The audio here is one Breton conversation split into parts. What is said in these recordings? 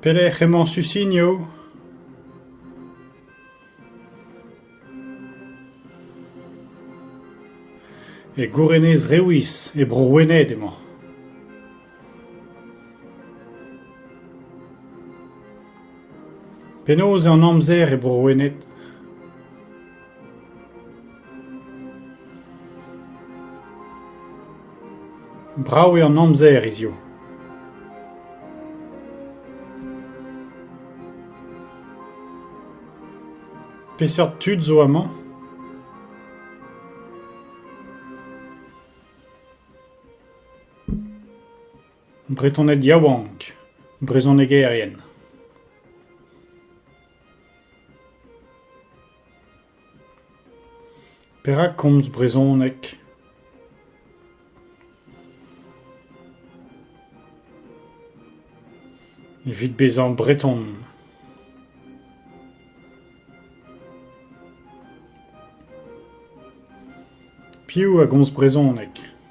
Pelec'h emañ Susinio? E Gourenez Rewiz, e Bro-Wened emañ. Penaos eo an amzer e Bro-Wened ? Brav eo an amzer hiziv. Peseurt tud zo amañ ? Bretoned yaouank, brezhonegerien. Perak komz brezhoneg ? Evit bezañ breton. Piv a gomz brezhoneg ?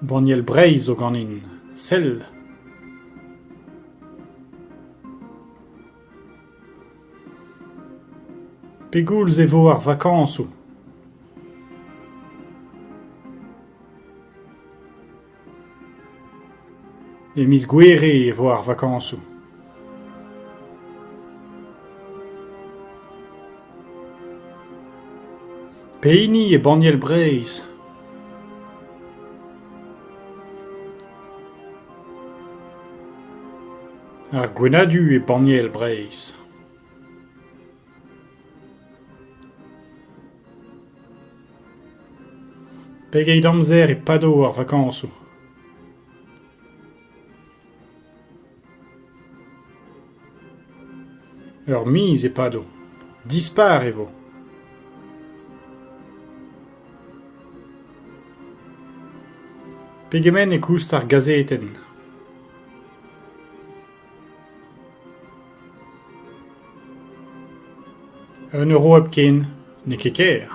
Banniel Breizh zo ganin, sell! Pegoulz e vo ar vakañsoù ? E miz Gouere e vo ar vakañsoù. Pehini eo banniel Breizh ? Ar Gwenadu eo banniel Breizh. Pegeit amzer e pado ar vakañsoù ? Ur miz e pado. Dispar e vo. Pegement e koust ar gazetenn? Un euro hepken n'eo ket ker.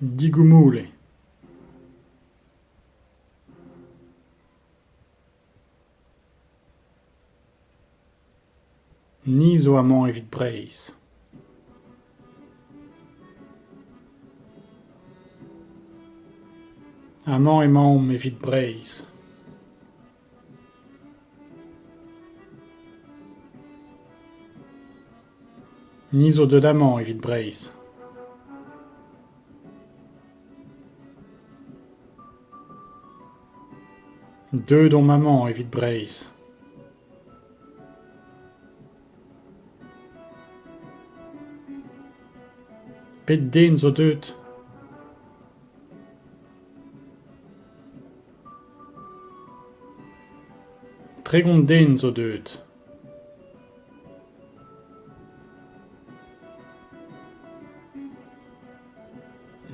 Digoumoule. Ni zo amañ evit Breizh. Amañ emaomp evit Breizh. Ni zo deut amañ evit Breizh. Deuet omp amañ evit Breizh. Pet den zo deut? Tregont den zo deuet.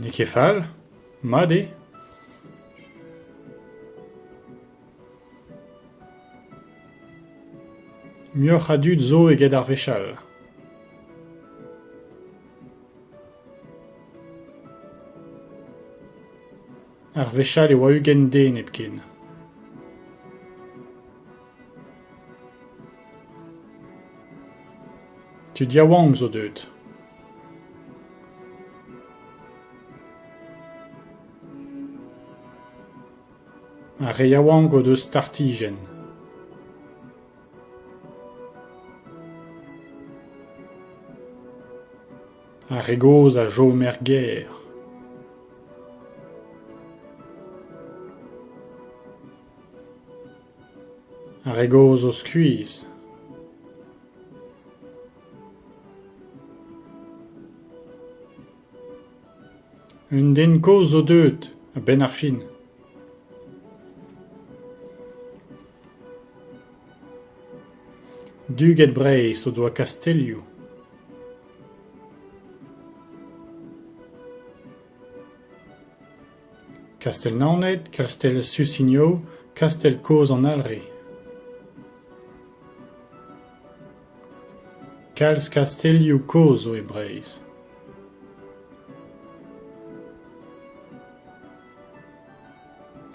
N'eo ket fall. Mat eo. Muioc'h a dud zo eget ar wech all. Ar wech all e oa ugent den hepken. Tud yaouank zo deuet. Ar re yaouank o deus startijenn. Ar re gozh a chom er gêr. Ar re gozh o skuizh. Un den kozh zo deuet, a-benn ar fin. Duged Breizh o doa kastellioù. Kastell-Naoned, Kastell-Susigno, kastell kozh an Alre. Kalz kastellioù kozh zo e Breizh.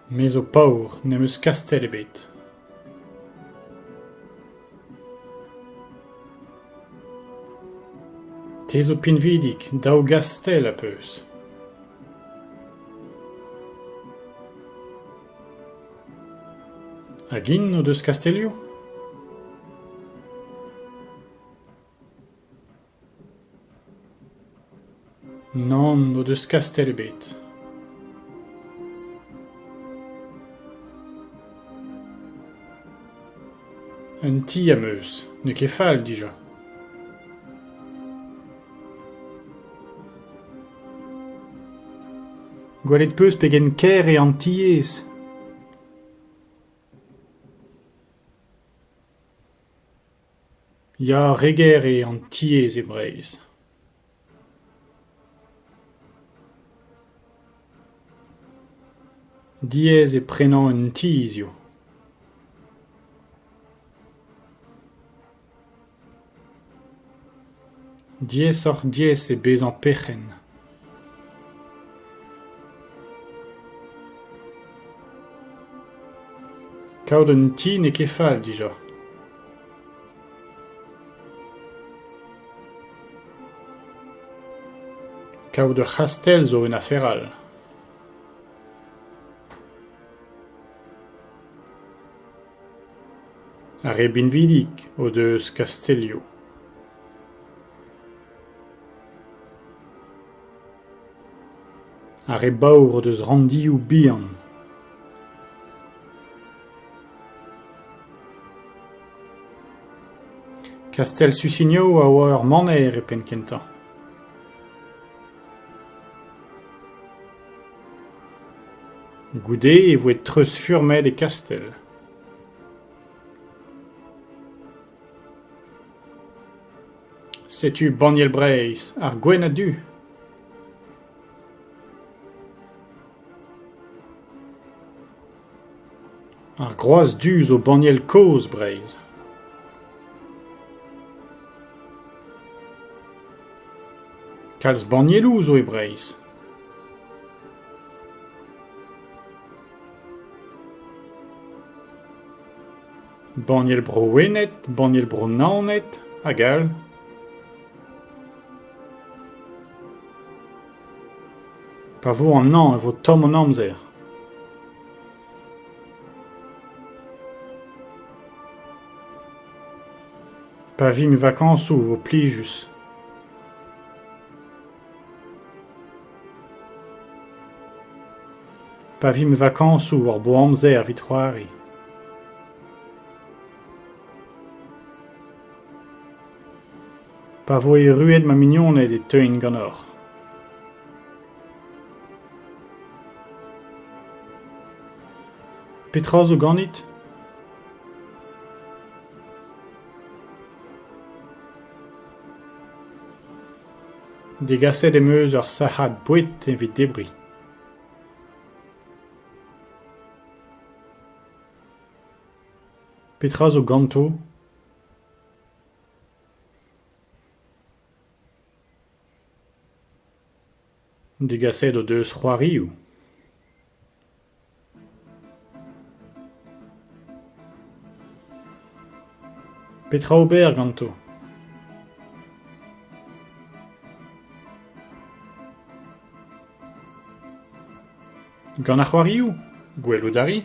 Me zo paour, ne'm eus kastell ebet. Te zo pinvidik, daou gastell a 'peus. Hag int o deus kastellioù ? Nann n'o deus kastell ebet. Un ti am eus, n'eo ket fall dija. Gwelet 'peus pegen kaer eo an tiez. Ya, re ger eo an tiez e Breizh. Diaes eo prenañ un ti hiziv. Diaesoc'h-diaes eo bezañ perc'henn. Kaout un ti n'eo ket fall dija. Kaout ur c'hastell zo un afer all. Ar re binvidik o deus Kastelio. Ar re baour o deus ranndioù bihan. Kastell Susigno a oa ur maner e penn-kentañ. Goude e voe treuzfurmet e Kastell. Setu banniel Breizh ar Gwenn a-du. Ar Groaz Du zo banniel kozh Breizh. Kalz bannieloù zo e Breizh. Banniel Bro-Wened, banniel Bro-Naoned hag all. Pa vo an hañv e vo tomm an amzer. Pa vimp vakañsoù e vo plijus. Pa vimp vakañsoù war bo amzer evit c'hoari. Pa voe erruet ma mignoned e teuin ganeoc'h. Petra zo ganit ? Degaset em eus ur sac'had boued evit debriñ. Petra zo ganto ? Degaset o deus c'hoarioù. Petra ober ganto? Gant ar c'hoarioù? Gwelout a ri?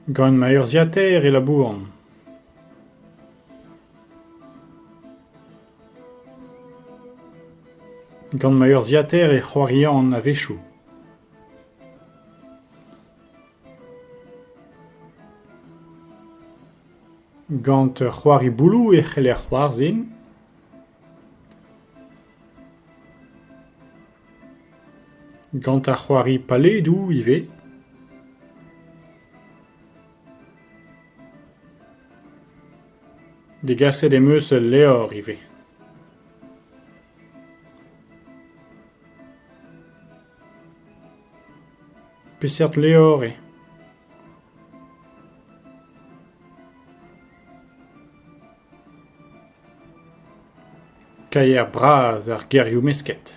Gant ma urzhiataer e labouran. Gant ma urzhiataer e c'hoarian a-wechoù. Gant ur c'hoari bouloù e c'heller c'hoarzhin. Gant ar c'hoari paledoù ivez. Degaset em eus ul levr ivez. Peseurt levr eo ? Kaier bras ar gerioù mesket.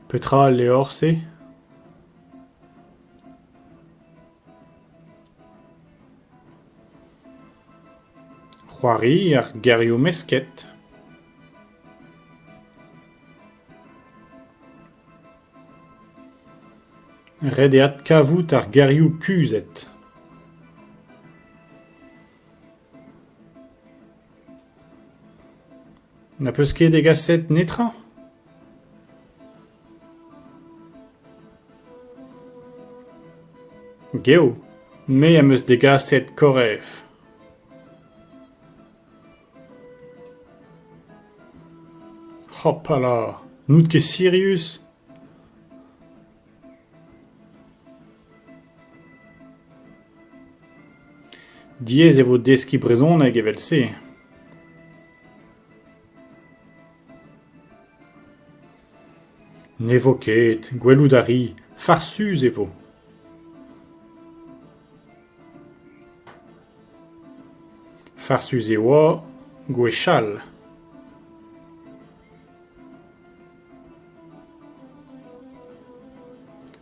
Petra al levr-se ? C'hoari ar gerioù mesket. Ret eo adkavout ar gerioù kuzhet. Na peus ket degaset netra ? Geo, me am eus degaset korref. Hopala, n'out ket sirius ? Diaes e vo deskiñ brezhoneg evel-se. Ne vo ket, gwelout a ri, farsus e vo. Farsus e oa gwechall.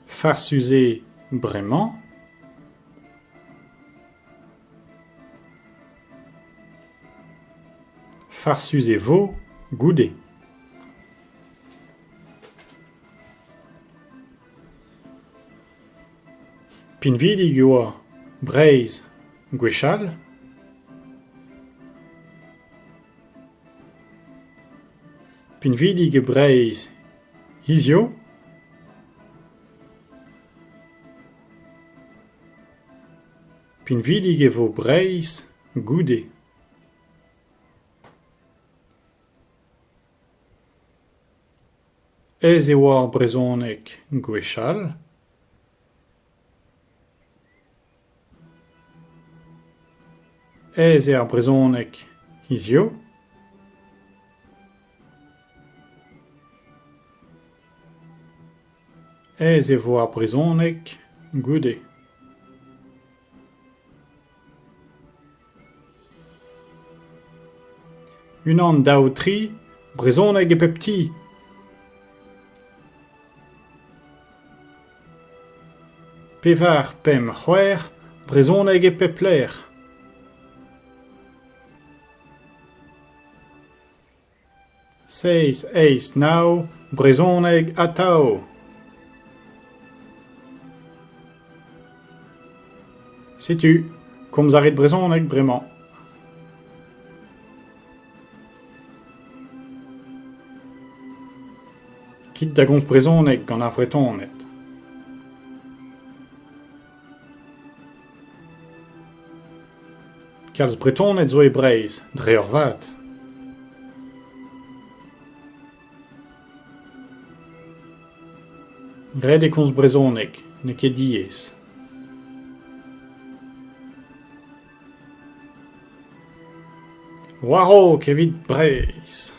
Farsus eo bremañ. Farsus e vo goude. Pinvidik e oa Breizh gwechall. Pinvidik e Breizh hiziv. Pinvidik e vo Breizh goude. Aes e oa ar brezhoneg gwechall. Aes eo ar brezhoneg hiziv. Aes e vo ar brezhoneg goude. Unan, daou, tri, brezhoneg e pep ti. Pevar, pemp, c'hwec'h, brezhoneg e pep lec'h. Seizh, eizh, nav, brezhoneg atav. Setu, komz a rit brezhoneg bremañ. Kit da gomz brezhoneg gant ar Vretoned. Kalz Bretoned zo e Breizh, dre eurvad. Ret eo komz brezhoneg, n'eo ket diaes. War-raok evit Breizh.